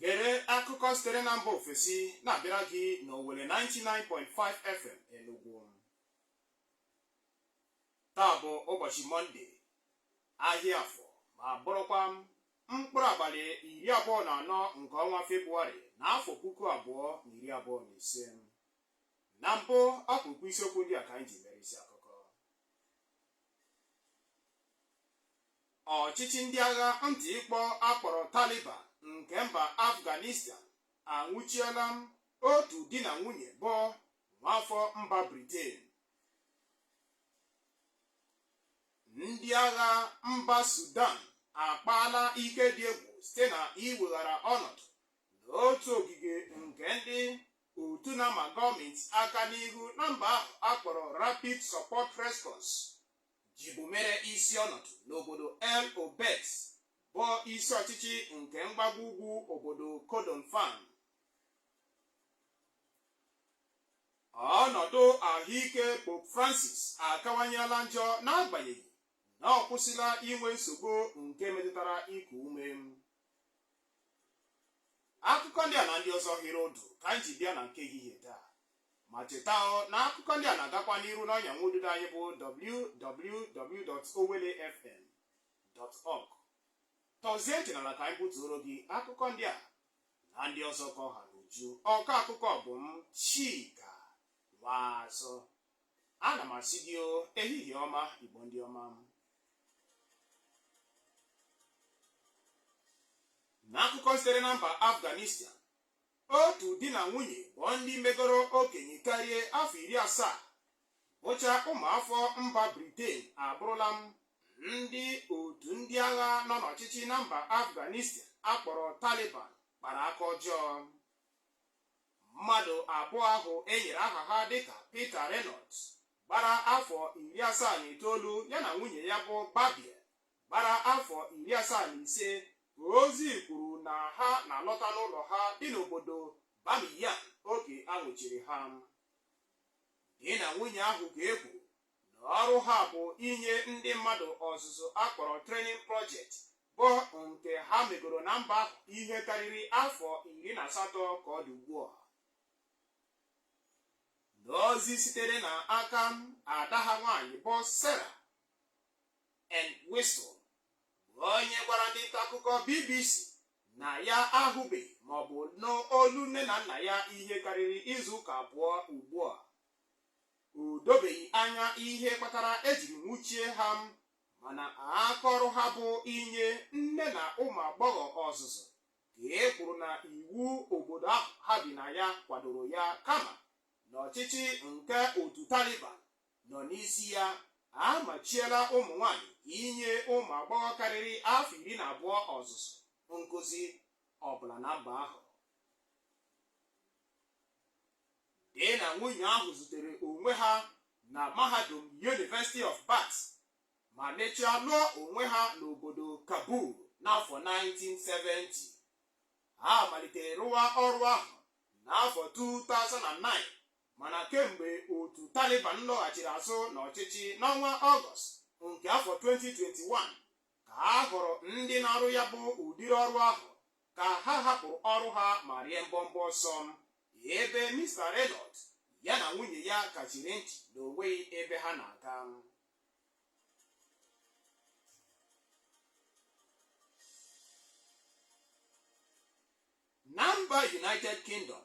gere akụkọ sitere na mba ofesi na-abịara gị n'Owelle 99.5 FM Enugu taa bụ ụbọchị mọnde ahịa afọ ma bụrụkwa m mkpụrụ abalị iri abụọ na anọ nke ọnwa Febụwarị na afọ puku abụọ na iri abụọ na ise. Na mbụ, ọkpụrụkpụ isiokwu ndị a ka anyị ji mere isi akụkọ. Ọchịchị ndị agha ntị ịkpọ akpọrọ Taliban nke mba Afghanistan anwụchiela otu di na nwunye bụ nwaafọ mba Britain. Ndị agha mba Sudan akpaala ike dị egwu site na iweghara ọnọdụ n'otu ogige nke ndị otu na-ama gọọmenti aka n'ihu na mba ahụ akpọrọ Rapid Support Response jibu mere isi ọnọdụ n'obodo El Obeid bụ isi ọchịchị nke mgbago ugwu obodo Kordofan. ọnọdụ ahụike Pope Francis akawanyela njọ n'agbanyeghị na ọ kwụsịla inwe nsogbu nke metụtara iku ume akụkọ ndị a na ndị ọzọ hiri ụdụ ka anyị ji bịa na nke ehihie taa ma cheta na akụkọ ndị a na-agakwa n'iru n'ọnya nwa ududo anyị bụ www.owellefm.org tọzie ntị n'ala ka anyị butuoro gị akụkọ ndị a na ndị ọzọ ka ọ ha n'uju ọkọ akụkọ bụ m Chika Nwazụ ana m asị gị o ehihie ọma Igbo ndị ọma m n'akụkọ sitere na mba Afghanistan otu di na nwunye bụ ndị megoro okenye karịa afọ iri asaa bụcha ụmụafọ mba Briten abụrụla ndị otu ndị agha nọ n'ọchịchị na mba Afghanistan akpọrọ Taliban kpara aka ọjọọ mmadụ abụọ ahụ e nyere aha ha dịka Peter Reynolds gbara afọ iri asaa na itoolu ya na nwunye ya bụ Barbie gbara afọ iri asaa na ise ozi kwuru na ha na-alọta n'ụlọ ha dị n'obodo Bamiyan oge a nwụchiri ha Di na nwunye ahụ ka e kwuru na ọrụ ha bụ inye ndị mmadụ ọzụzụ a kpọrọ training project bụ nke ha megoro na mba ahụ ihe karịrị afọ iri na asatọ ka ọ dị ugbu a. N'ozi sitere na aka ada ha nwaanyị bụ Sarah Entwistle bụ onye gwara ndị nta akụkọ BBC na ya ahụbeghị maọbụ nụ olu nne na nna ya ihe karịrị izu ụka abụọ ugbu a o dobeghị anya ihe kpatara ejiri nwụchie ha mana aka ọrụ ha bụ inye nne na ụmụ agbọghọ ọzụzụ ka e kwuru na iwu obodo ahụ ha bi na ya kwadoro ya kama na ọchịchị nke otu Taliban nọ n'isi ya amachiela ụmụ nwanyị inye ụmụ agbọghọ karịrị afọ iri na abụọ ọzụzụ nkụzi ọbụla na mba ahụ di na nwunye ahụ zutere onwe ha na mahadum University of Bath ma mechaa lụọ onwe ha n'obodo Kabul n'afọ 1970 ha malitere rụwa ọrụ ahụ n'afọ 2009 Mana kemgbe otu Taliban lọghachiri azụ n'ọchịchị n'ọnwa Ọgọst nke afọ 2021 ka a hụrụ ndị na-arụ ya bụ ụdịrị ọrụ ahụ ka ha hapụrụ ọrụ ha ma rie mbọmbọ ọsọ ebe Mr Reynolds ya na nwunye ya kachiri ntị na o nweghị ebe ha na-aga na mba United Kingdom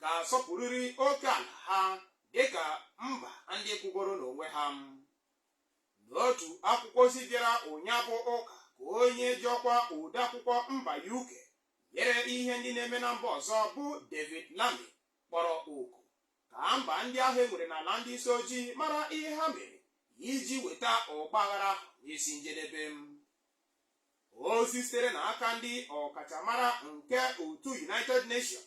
ga-asọpụrịrị oke ala ha dịka mba ndị kwụgoro n'onwe ha n'otu akwụkwọ ozi bịara ụnyahụ ụka ka onye ji ọkwa odeakwụkwọ mba UK nyere ihe ndị na-eme na mba ọzọ bụ David Lammy kpọrọ oku ka mba ndị ahụ e nwere n'ala ndị isi ojii mara ihe ha mere iji weta ọgbaghara ahụ n'isi njedebe ozi sitere n'aka ndị ọkachamara nke otu United Nations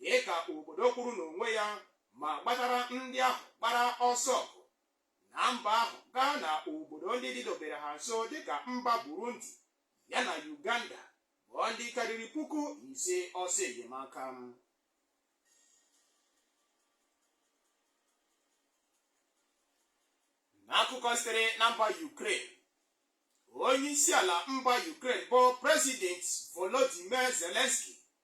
dị ka obodo kwụụrụ n'onwe ya ma gbatara ndị ahụ gbara ọsọ ọgụ na mba ahụ gaa na obodo ndị dịdobere ha nso dịka mba Burundi ya na Uganda bụ ndị karịrị puku ise ọsọ enyemaka n'akụkọ sitere na mba Ukraine onye isi ala mba Ukraine bụ President Volodymyr Zelensky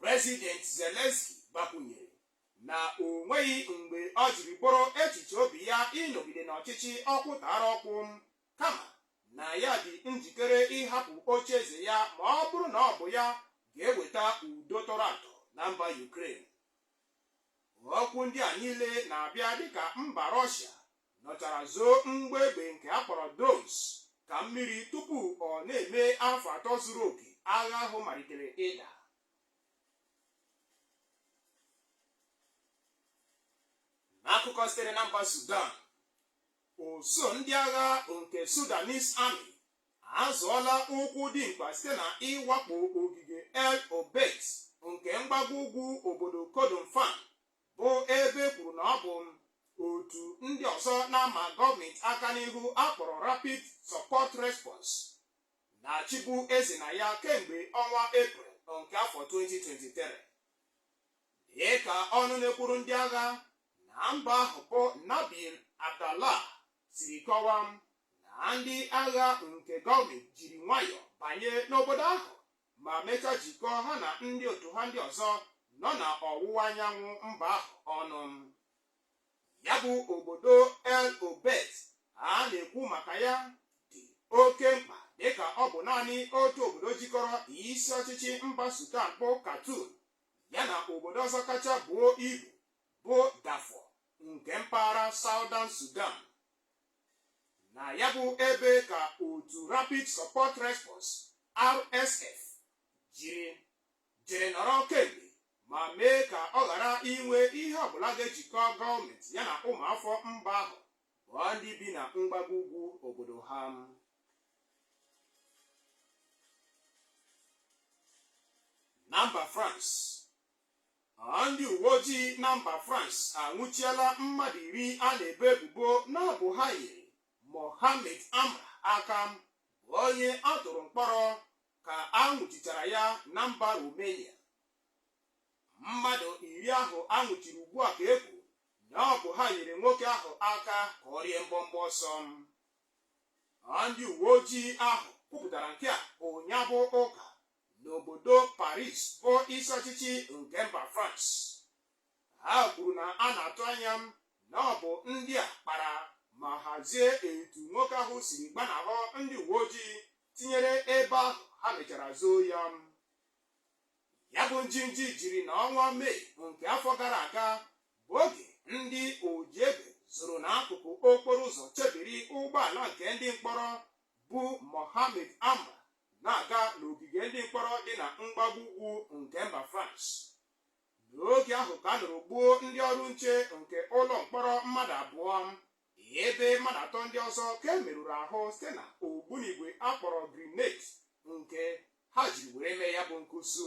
President Zelensky gbakwunyere na o nweghị mgbe o jiri bụrụ echiche obi ya ịnọgide n'ọchịchị ọkpụ tọrọ ọkpụ kama na ya dị njikere ịhapụ oche eze ya ma ọ bụrụ na ọ bụ ya ga-eweta udo tọrọ atọ na mba Ukraine. Okwu ndị a niile na-abịa dịka mba Rọshia nọchara zoo mgbọ egbe nke a kpọrọ drones ka mmiri tupu ọ na-eme afọ atọ zuru oke agha ahụ malitere ịda n'akụkọ sitere na mba Sudan usuu ndị agha nke Sudanese Army azọọla ụkwụ dị mkpa site na ịwakpo ogige El Obeid nke mgbago ugwu obodo Kordofan bụ ebe e kwuru na ọ bụ otu ndị ọzọ na-ama gọọmenti aka n'ihu a kpọrọ Rapid Support Response na-achịbu eze na ya kemgbe ọnwa Eprel nke afọ 2023 dịka ọnụ na-ekwuru ndị agha na mba ahụ bụ Nabil Abdallah siri kọwaa na ndị agha nke gọọmenti jiri nwayọọ banye n'obodo ahụ ma mechaa jikọọ ha na ndị otu ha ndị ọzọ nọ na ọwụwa anyanwụ mba ahụ ọnụ. Ya bụ obodo El Obeid a na-ekwu maka ya dị oke mkpa dịka ọ bụ naanị otu obodo jikọrọ isi ọchịchị mba Sudan bụ Khartoum ya na obodo ọzọ kacha buo ibu bụ Darfur nke mpaghara Southern Sudan. na ya bụ ebe ka otu Rapid Support Response RSF jiri jere nọrọ kemgbe ma mee ka ọ ghara inwe ihe ọbụla ga-ejikọ gọọmenti ya na ụmụafọ mba ahụ bụ ndị bi na mgbago ugwu obodo ha na mba France Ndị uweojii na mba France anwụchiela mmadụ iri a na-ebo ebubo na ọ bụ ha nyere Mohammed Amra aka bụ onye a tụrụ mkpọrọ ka a nwụchichara ya na mba Romania. Mmadụ iri ahụ a nwụchiri ugbu a ka e kwuru na ọ bụ ha nyere nwoke ahụ aka ka ọ rie mbọmbọ ọsọ. Ndị uweojii ahụ kwupụtara nke a ụnyaa bụ Ụka n'obodo Paris bụ isi ọchịchị nke mba France ha kwuru na a na-atụ anya na ọ bụ ndị a kpara ma hazie etu nwoke ahụ siri gbanahụ ndị uwe ojii tinyere ebe ahụ ha mechara zoo ya ya bụ njinji jiri na ọnwa Mee nke afọ gara aga bụ oge ndị oji egbe zoro n'akụkụ okporo ụzọ chebiri ụgbọala nke ndị mkpọrọ bu Mohammed Amra na-aga n'ogige ndị mkpọrọ dị na mgbago ugwu nke mba France n'oge ahụ ka a nọrọ gbuo ndị ọrụ nche nke ụlọ mkpọrọ mmadụ abụọ ebe mmadụ atọ ndị ọzọ ka e merụrụ ahụ site na ogbunigwe a kpọrọ grenade nke ha jiri were mee ya bụ nkụsu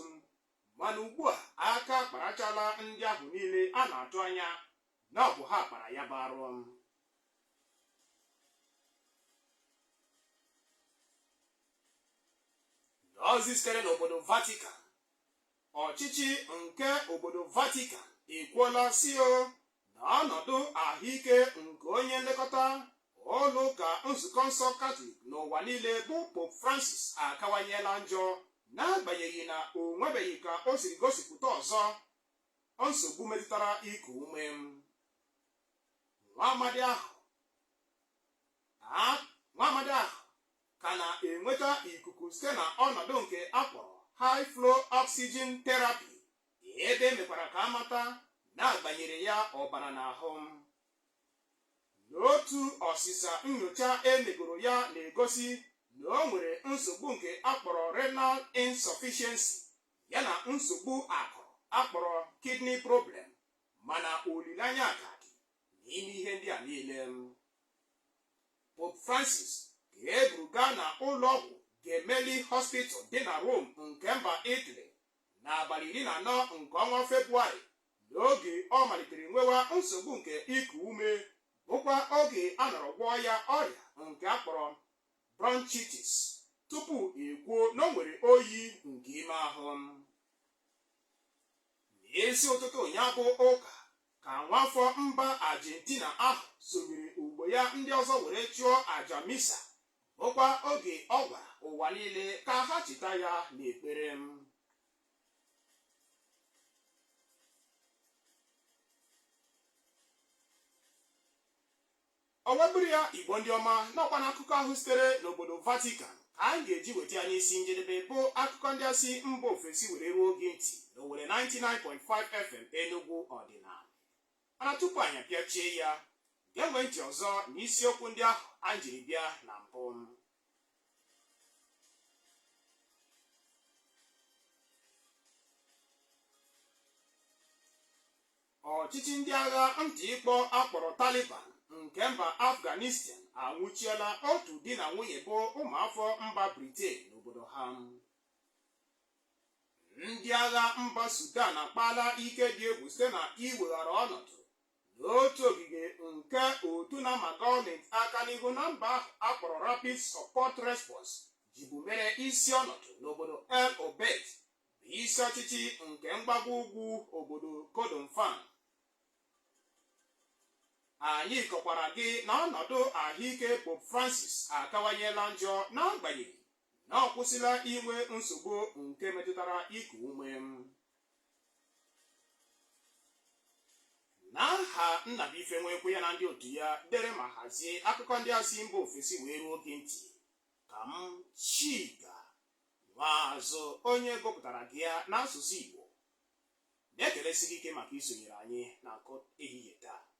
mana ugbu a aka kparachala ndị ahụ niile a na-atụ anya na ọ bụ ha kpara ya bụ arụ n'ozi sitere n'obodo vatican ọchịchị nke obodo vatican ekwuola sị o na ọnọdụ ahụike nke onye nlekọta ụlọ ụka nzukọ nsọ katọlik n'ụwa niile bụ pope francis akawanyela njọ n'agbanyeghị na o nwebeghị ka o siri gosipụta ọzọ Nsogbu metụtara iku ume. Nwa amadi ahụ a nwa amadi ahụ ka na-enweta ikuku site na ọnọdụ nke a kpọrọ high flow oxygen therapy ebe e mekwara ka a mata na a gbanyere ya ọbara n'ahụ. N'otu ọsịsa nyocha e megoro ya na-egosi na o nwere nsogbu nke a kpọrọ renal insufficiency ya na nsogbu akụrụ a kpọrọ kidney problem mana olileanya ka dị n'ime ihe ndị a niile Pope Francis ka e buru gaa na ụlọọgwụ Gemelli Hospital dị na Rome nke mba Italy n'abalị iri na anọ nke ọnwa Febụwarị n'oge ọ malitere nwewa nsogbu nke iku ume bụkwa oge a nọrọ gwọọ ya ọrịa nke a kpọrọ bronchitis, tupu e kwuo na o nwere oyi nke ime ahụ. N'isi ụtụtụ ụnyaa bụ ụka ka nwafọ mba Argentina ahụ sonyere ogbo ya ndị ọzọ were chụọ aja misa bụkwa oge ọ gwara ụwa niile ka ha cheta ya n'ekpere O wee bụrụ ya, Igbo ndị ọma, na ọkwa na akụkọ ahụ sitere n'obodo Vatican ka anyị ga-eji weta ya n'isi njedebe bụ akụkọ ndị a si mba ofesi were ruo gị ntị na Owelle 99.5 FM Enugu ọdịnala. Mana tupu anyị apịachie ya, gewe ntị ọzọ n'isiokwu ndị ahụ anyị jiri bịa na mbụ. ọchịchị ndị agha ntị ịkpọ a kpọrọ taliban nke mba afghanistan anwụchiela otu di na nwunye bụ ụmụafọ mba briten n'obodo ha ndị agha mba sudan akpaala ike dị egwu site na iweghara ọnọdụ n'otu ogige nke otu na-ama gọọmenti aka n'ihu na mba ahụ a kpọrọ Rapid Support Response jibu mere isi ọnọdụ n'obodo El Obeid bụ isi ọchịchị nke mgbago ugwu obodo Kordofan anyị kọkwara gị na ọnọdụ ahụike Pope Francis akawanyela njọ n'agbanyeghị na ọ kwụsịla inwe nsogbu nke metụtara iku ume n'aha Nnabuife Nwekwe ya na ndị otu ya dere ma hazie akụkọ ndị a si mba ofesi wee ruo gị ntị ka m Chika Nwaazụ onye gụpụtara gị ya n'asụsụ Igbo na-ekelesi gị ike maka isonyere anyị n'akụkọ ehihie taa